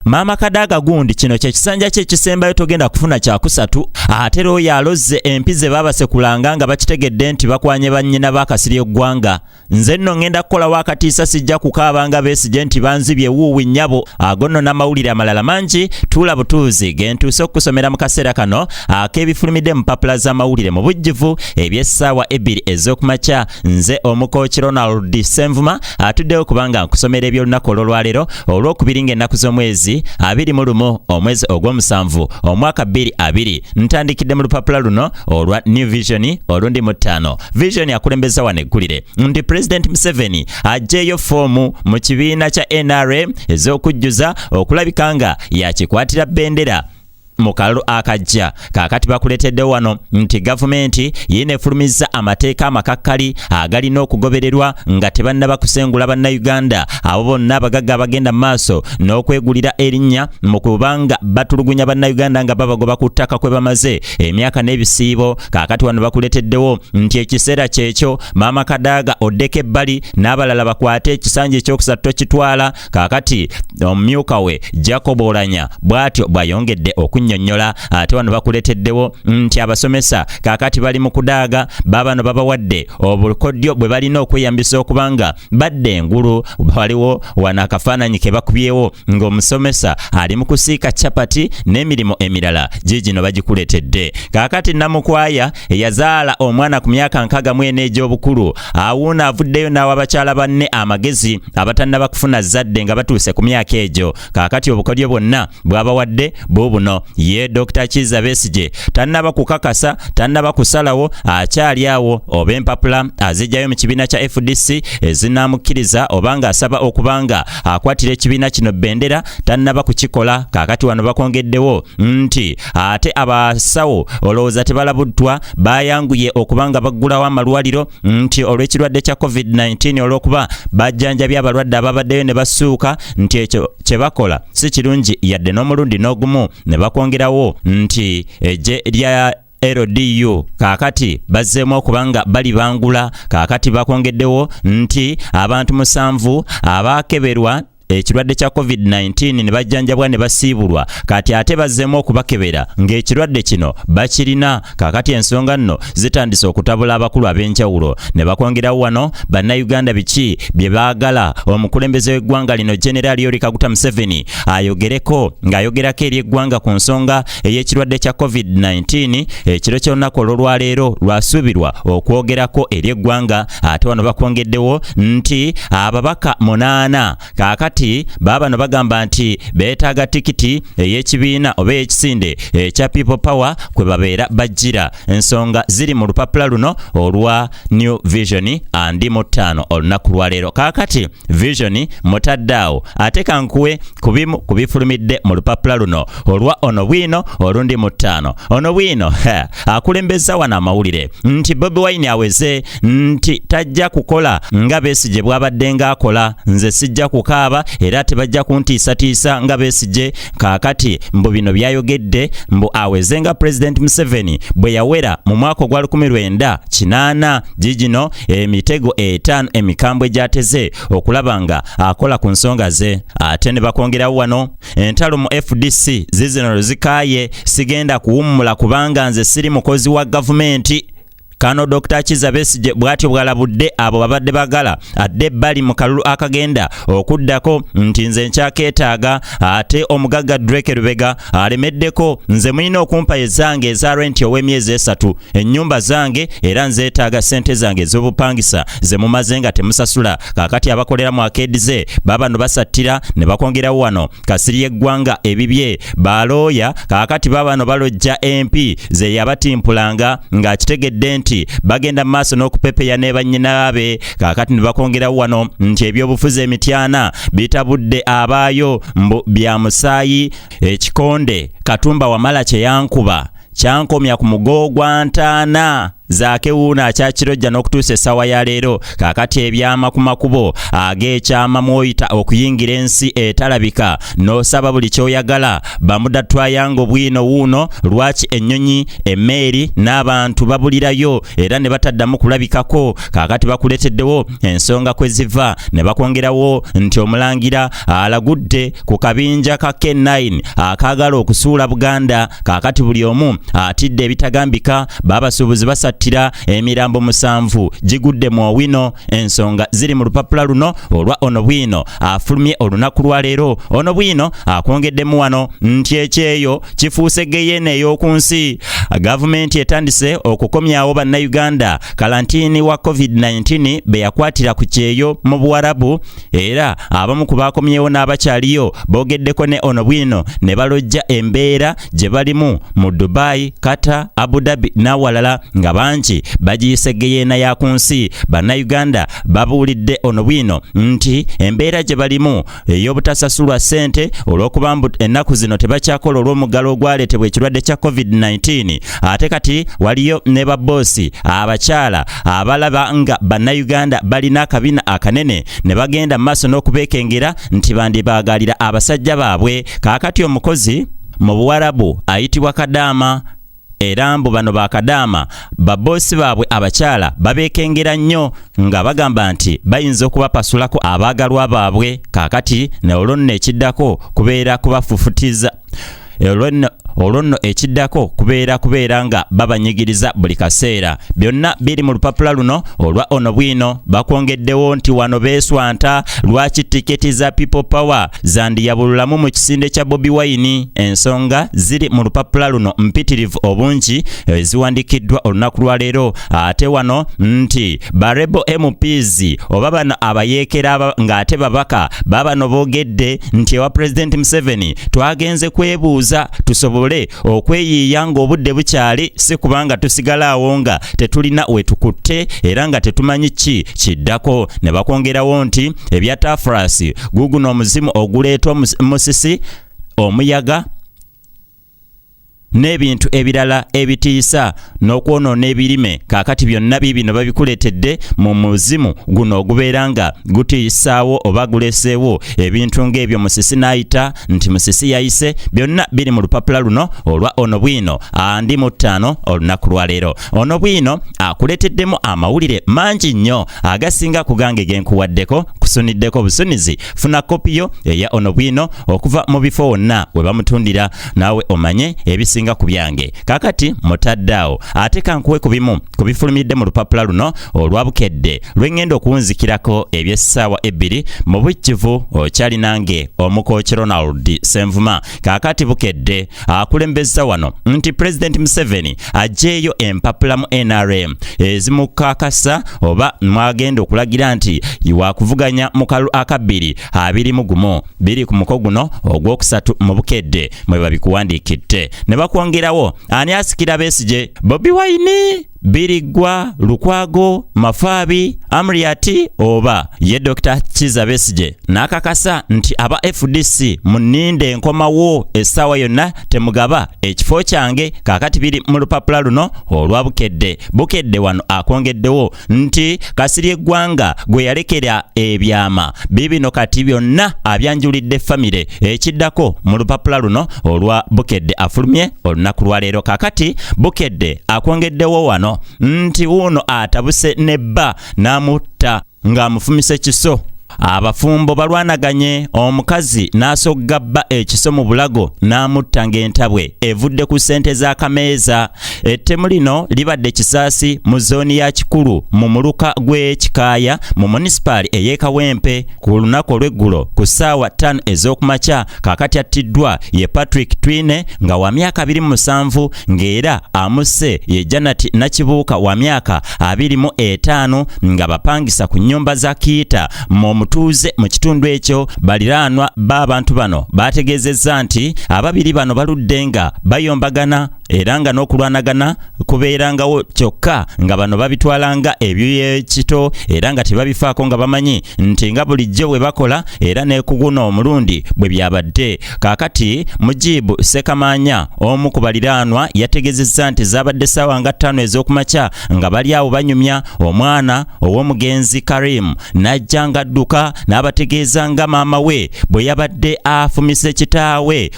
maama kadaaga gundi kino kyekisanja kye ekisembayo togenda kufuna kyakusatu ate lwoyo alozze empi ze baabasekulanga nga bakitegedde nti bakwanye bannyina bakasirye eggwanga nze nno ŋŋenda kukolawo akatiisa sijja kukaaba nga beesigye nti banzibye wuuwi nnyabo ago nno n'amawulire amalala mangi tuula butuuzi ge ntuuse okukusomera mu kaseera kano ak'ebifulumidde mu mpapula z'amawulire mu bujjuvu eby'essaawa ebbiri ez'okumakya nze omukooki ronald senvuma atuddewo kubanga nkusomera eby'olunaku olw'olwaleero olw'okubiri ng'ennaku z'omwezi abiri mu lumu omwezi ogw'omusanvu omwaka bbiri abiri ntandikidde mu lupapula luno olwa new vision olundi mu ttaano vision akulembeza wano eggulire nti pulezidenti museveni ajjeeyo foomu mu kibiina kya nra ez'okujjuza okulabika nga yakikwatira bendera mu kalulu akajja kaakati bakuleeteddewo wano nti gavumenti yiina efulumizza amateeka amakakkali agalina okugobererwa nga tebannaba kusengula bannayuganda abo bonna abagagga abagenda mu maaso n'okwegulira erinnya mu kubanga batulugunya bannayuganda nga babagoba ku ttaka kwe bamaze emyaka n'ebisiibo kaakati wano bakuleeteddewo nti ekiseera kyekyo maama kadaaga oddeko ebbali n'abalala bakwate ekisanja ekyokusatu tokitwala kaakati omumyuka we jacob olanya bw'atyo bw'ayongedde okunnyonnyola ate wano bakuleeteddewo nti abasomesa kaakati bali mu kudaaga baabano babawadde obukodyo bwe balina okweyambisa okubanga badda engulu waliwo wano akafaananyi ke bakubyewo ng'omusomesa ali mu kusiika capati n'emirimu emirala giigino bagikuletedde kaakati namukwaya eyazaala omwana ku myaka nkaga mwena egy'obukulu awuuna avuddeyo n'awa bakyala banne amagezi abatannaba kufuna zadde nga batuuse ku myaka egyo kaakati obukodyo bwonna bwabawadde buubuno ye dr kiza besigye tannaba kukakasa tannaba kusalawo akyali awo oba empapula azijjayo mu kibiina kya fdc ezinaamukkiriza oba nga asaba okuba nga akwatira ekibiina kino bendera tannaba kukikola kaakati wano bakwongeddewo nti ate abasawo olowooza tebalabuddwa bayanguye okuba nga baggulawo amalwaliro nti olw'ekirwadde kya covid-19 olw'okuba bajjanjabye abalwadde ababaddeyo ne basuuka nti ekyo kye bakola si kirungi yadde n'omulundi n'ogumu ne bakwongerawo nti eggye lya LDU kakati bazzeemu okuba nga bali bangula kakati bakwongeddewo nti abantu musanvu abaakeberwa ekirwadde kya covid-19 ne bajjanjabwa ne basiibulwa kati ate bazzeemu okubakebera ng'ekirwadde kino bakirina kakati ensonga nno zitandise okutabula abakulu ab'enjawulo ne bakwongerawo wano bannayuganda biki bye baagala omukulembeze w'eggwanga lino generaali yori kaguta museveni ayogereko ng'ayogerako eri eggwanga ku nsonga ey'ekirwadde kya covid-19 ekiro ky'olunaku olw'olwaleero lwasuubirwa okwogerako eri eggwanga ate wano bakwongeddewo nti ababaka munaana kaakati baabano bagamba nti beetaaga tikiti ey'ekibiina oba ey'ekisinde ekya people power kwe babeera bajjira ensonga ziri mu lupapula luno olwa new vision andi mu ttaano olunaku lwaleero kaakati vision mutadde awo ate kankuwe ku bimu ku bifulumidde mu lupapula luno olwa ono bwino olundi mu ttaano ono bwino akulembeza wano amawulire nti bobi wine aweze nti tajja kukola nga besigye bwabadde ng'akola nze sijja kukaaba era tebajja kuntiisatiisa nga besigye kaakati mbu bino byayogedde mbu aweze nga pulezidenti museveni bwe yawera mu mwaka ogwa 1980 gigino emitego etaano emikambwe gyateze okulaba nga akola ku nsonga ze ate ne bakwongerawo wano entalo mu fdc zizino luzikaaye sigenda kuwummula kubanga nze siri mukozi wa gavumenti Kano Dr. Kiza Besigye bwatyo bwalabudde abo babadde bagala adde bali mu kalulu akagenda okuddako nti nze nkyakeetaaga ate omugagga Drake Lubega alemeddeko nze mulina okumpa ezange eza renti ow'emyezi esatu ennyumba zange era nzeetaaga ssente zange ez'obupangisa ze mumaze nga temusasula kakati abakolera mu akeedi ze babano basattira ne bakwongerawo wano kasirye eggwanga ebibye balooya kaakati babano balojja empi ze yabatimpulanga ng'akitegedde nti bagenda mu maaso n'okupepeya ne bannyinaabe kaakati ne bakongerawo wano nti ebyobufuzi emityana bitabudde abaayo mbu bya musaayi ekikonde katumba wamala kye yankuba kyankomya ku mugo gwa ntaana Zaake wuuno akyakirojja n'okutuusa essaawa ya leero kaakati ebyama ku makubo ag'ekyama mwoyita okuyingira ensi etalabika n'osaba buli kyoyagala bamuda twayanga obwino wuuno lwaki ennyonyi emmeeri n'abantu babulirayo era ne bataddamu kulabikako kaakati bakuleeteddewo ensonga kwe ziva ne bakwongerawo nti omulangira alagudde ku kabinja ka K9 akaagala okusuula Buganda Kaakati buli omu atidde ebitagambika, baabasuubuzi basattira emirambo musanvu gigudde mu Owino. Ensonga ziri mu lupapula luno olwa Ono Bwino afulumye olunaku lwa leero. Ono Bwino akwongeddemu wano nti ekyeyo kifuuse geyeena ey'oku nsi. Gavumenti etandise okukomyawo Bannayuganda kalantiini wa COVID-19 be yakwatira ku kyeyo mu Buwarabu era abamu ku baakomyewo n'abakyaliyo boogeddeko ne ono bwino ne balojja embeera gye balimu mu dubai kata abu dhabi n'awalala nga bangi bagiyise geyeena ya ku nsi bannayuganda babuulidde ono bwino nti embeera gye balimu ey'obutasasulwa ssente olw'okuba mbu ennaku zino tebakyakola olw'omuggalo ogwaleetebwa ekirwadde kya covid-19 ate kati waliyo ne babboosi abakyala abalaba nga bannayuganda balina akabina akanene ne bagenda mu maaso n'okubeekengera nti bandibaagalira abasajja baabwe kaakati omukozi mu buwarabu ayitibwa kadaama era mbu bano bakadaama baboosi baabwe abakyala babeekengera nnyo nga bagamba nti bayinza okubapasulako abaagalwa baabwe kaakati ne olwo nno ekiddako kubeera kubafufutiza olwo nno ekiddako kubeera kubeera nga babanyigiriza buli kaseera byonna biri mu lupapula luno olwa ono bwino bakwongeddewo nti wano beeswanta lwaki tiketi za people power zandiyabululamu mu kisinde kya bobi wayini ensonga ziri mu lupapula luno mpitirivu obungi eziwandikiddwa olunaku lwaleero ate wano nti barebo mps oba bano abayeekera ng'ate babaka babano boogedde nti ewa pulezidenti museveni twagenze kwebuuza tusobole okweyiiya ng'obudde bukyali si kubanga tusigala awo nga tetulina wetukutte era nga tetumanyi ki kiddako ne bakwongerawo nti ebya tafurasi guguno omuzimu oguleeta musisi omuyaga n'ebintu ebirala ebitiisa n'okwonoona ebirime kaakati byonna biibino babikuleetedde mu muzimu guno ogubeera nga gutiisaawo oba guleseewo ebintu ng'ebyo musisi n'ayita nti musisi yayise byonna biri mu lupapula luno olwa ono bwino andi mu ttaano olunaku lwaleero ono bwino akuleeteddemu amawulire mangi nnyo agasinga ku gange genkuwaddeko kusuniddeko busunizi funa kopi yo eya ono bwino okuva mu bifo wonna we bamutundira naawe omanye ebisinga ku byange kakati mutaddaawo ate kankuwe ku bimu ku bifulumiridde mu lupapula luno olwa bukedde lwengenda okuwunzikirako ebyessaawa ebbiri mu bujjuvu okyali nange omukoki ronald senvuma Kaakati Bukedde akulembezza wano nti Pulezidenti Museveni aggyeeyo empapula mu NRM ezimukakasa oba mwagenda okulagira nti wakuvuganya mu kalu akabbiri abiri mu gumu biri ku muko guno ogwokusatu mu Bukedde mwe babikuwandiikidde ne bakwongerawo ani asikira Besigye Bobi Wine biriggwa lukwago mafaabi amriati oba ye dr kiza besije n'akakasa nti aba fdc muninde enkomawo essaawa yonna temugaba ekifo kyange kakati biri mu lupapula luno olwa bukedde bukedde wano akwongeddewo nti kasiri eggwanga gwe yalekera ebyama bibino kati byonna abyanjulidde famire ekiddako mu lupapula luno olwa Bukedde afulumye olunaku lwa leero. Kakati Bukedde akwongeddewo wano nti wuuno atabuse ne bba n'amutta ng'amufumise kiso. Abafumbo balwanaganye omukazi n'asogga bba ekiso mu bulago n'amutta ng'entabwe evudde ku ssente za kameeza. Ettemu lino libadde Kisaasi mu zooni ya Kikulu mu muluka gw'e Kikaaya mu munisipaali ey'e Kawempe. ku lunaku olw'eggulo ku ssaawa ttaano ez'okumakya kaakati attiddwa ye patrick twine nga wa myaka abiri mu musanvu ng'era amusse ye janati nakibuuka wa myaka abiri mu etaano nga bapangisa ku nnyumba za kiita mu omutuuze mu kitundu ekyo baliraanwa b'abantu bano baategeezezza nti ababiri bano baludde nga bayombagana era nga n'okulwanagana kubeerangawo kyokka nga bano babitwala nga ebyoyekito era nga tebabifaako nga bamanyi nti nga bulijjo bwe bakola era nekuguna omulundi bwe byabadde kaakati mujibu sekamaanya omu ku baliraanwa yategezezza nti zaabadde ssaawa nga ttaano ez'okumakya nga bali awo banyumya omwana ow'omugenzi Karim n'ajja ng'adduka n'abategeeza nga maama we bwe yabadde afumise kitaawe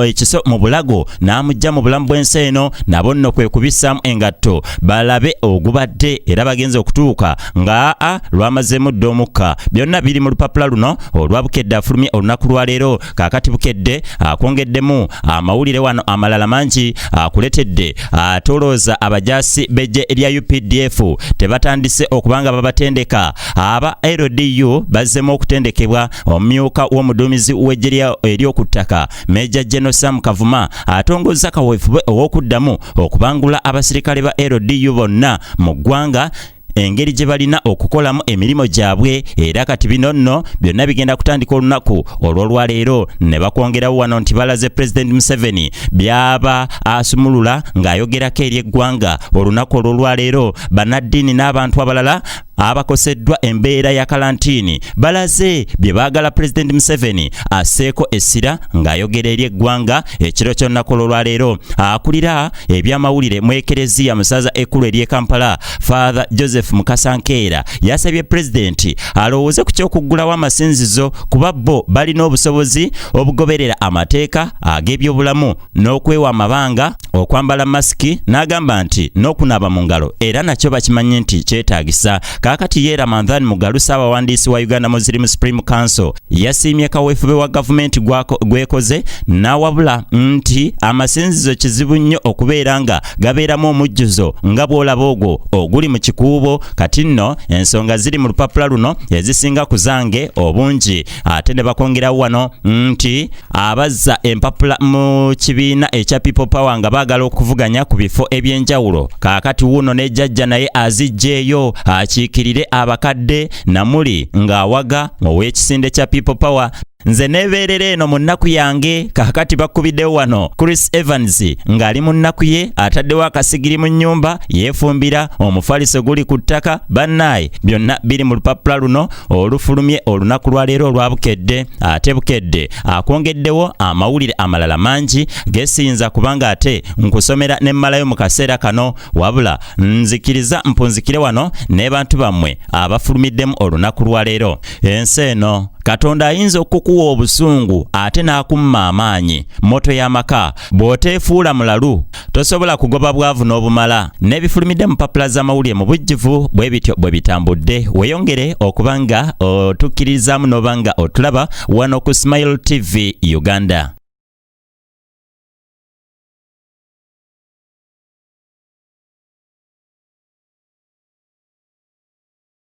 ekiso mu bulago n'amujja mu bulamu bw'ensi eno nabo nno kwe kubissaamu engatto balabe ogubadde era bagenze okutuuka nga a lwamazeemu dda omukka byonna biri mu lupapula luno olwa bukedde afulumye olunaku lwaleero kakati bukedde akwongeddemu amawulire wano amalala mangi akuletedde atolooza abajaasi bejje erya updf tebatandise okubanga babatendeka aba ldu bazzemu okutendekebwa omumyuka w'omuduumizi w'ejje ery'oku ttaka meja geno sam kavuma atongozza kaweefube ow'okuddamu okubangula abasirikale ba ldu bonna mu ggwanga engeri gye balina okukolamu emirimu gyabwe era kati bino nno byonna bigenda kutandika olunaku olw'olwaleero ne bakwongerawo wano nti balaze pulezidenti museveni byaba asumulula ng'ayogerako eri eggwanga olunaku olw'olwaleero bannaddiini n'abantu abalala abakoseddwa embeera ya kalantiini balaze bye baagala pulezidenti museveni asseeko essira ng'ayogera eri eggwanga ekiro ky'olunaku olw'olwaleero akulira ebyamawulire mu ekereziya mu ssaza ekkulu ery'e kampala Father Joseph Mukasa Nkeera yasabye pulezidenti alowooze ku ky'okuggulawo amasinzizo kuba bo balina obusobozi obugoberera amateeka ag'ebyobulamu n'okwewa amabanga okwambala masiki n'agamba nti n'okunaaba mu ngalo era nakyo bakimanyi nti kyetaagisa kaakati ye ramadhan mugalu saabawandiisi wa uganda muslim supreme council yasiimye kaweefube wa gavumenti gwekoze n'awabula nti amasinzizo kizibu nnyo okubeera nga gabeeramu omujjuzo nga bw'olaba ogwo oguli mu kikuubo kati nno ensonga ziri mu lupapula luno ezisinga ku zange obungi ate ne bakongerawo wano nti abazza empapula mu kibiina ekya people power nga baagala okuvuganya ku bifo eby'enjawulo kaakati wuuno ne jajja naye aziggyeeyo akiikirire abakadde namuli ng'awaga ow'ekisinde kya people power nze neebeerera eno mu nnaku yange kakati bakkubiddewo wano chris evans ng'ali mu nnaku ye ataddewo akasigiri mu nnyumba yeefumbira omufaliso guli ku ttaka bannaaye byonna biri mu lupapula luno olufulumye olunaku lwa leero olwa bukedde ate bukedde akwongeddewo amawulire amalala mangi gesiyinza kubanga ate nkusomera ne mmalayo mu kaseera kano wabula nzikiriza mpunzikire wano n'ebantu bammwe abafulumiddemu olunaku lwa leero ensi eno katonda ayinza okukuwa obusungu ate n'akumma amaanyi moto y'amaka bw'oteefuula mulalu tosobola kugoba bwavu n'obumala n'ebifulumidde mu mpapula z'amawulire mu bujjuvu bwe bityo bwe bitambudde weyongere okuba nga otukkiririzaamu n'oba nga otulaba wano ku smile tv uganda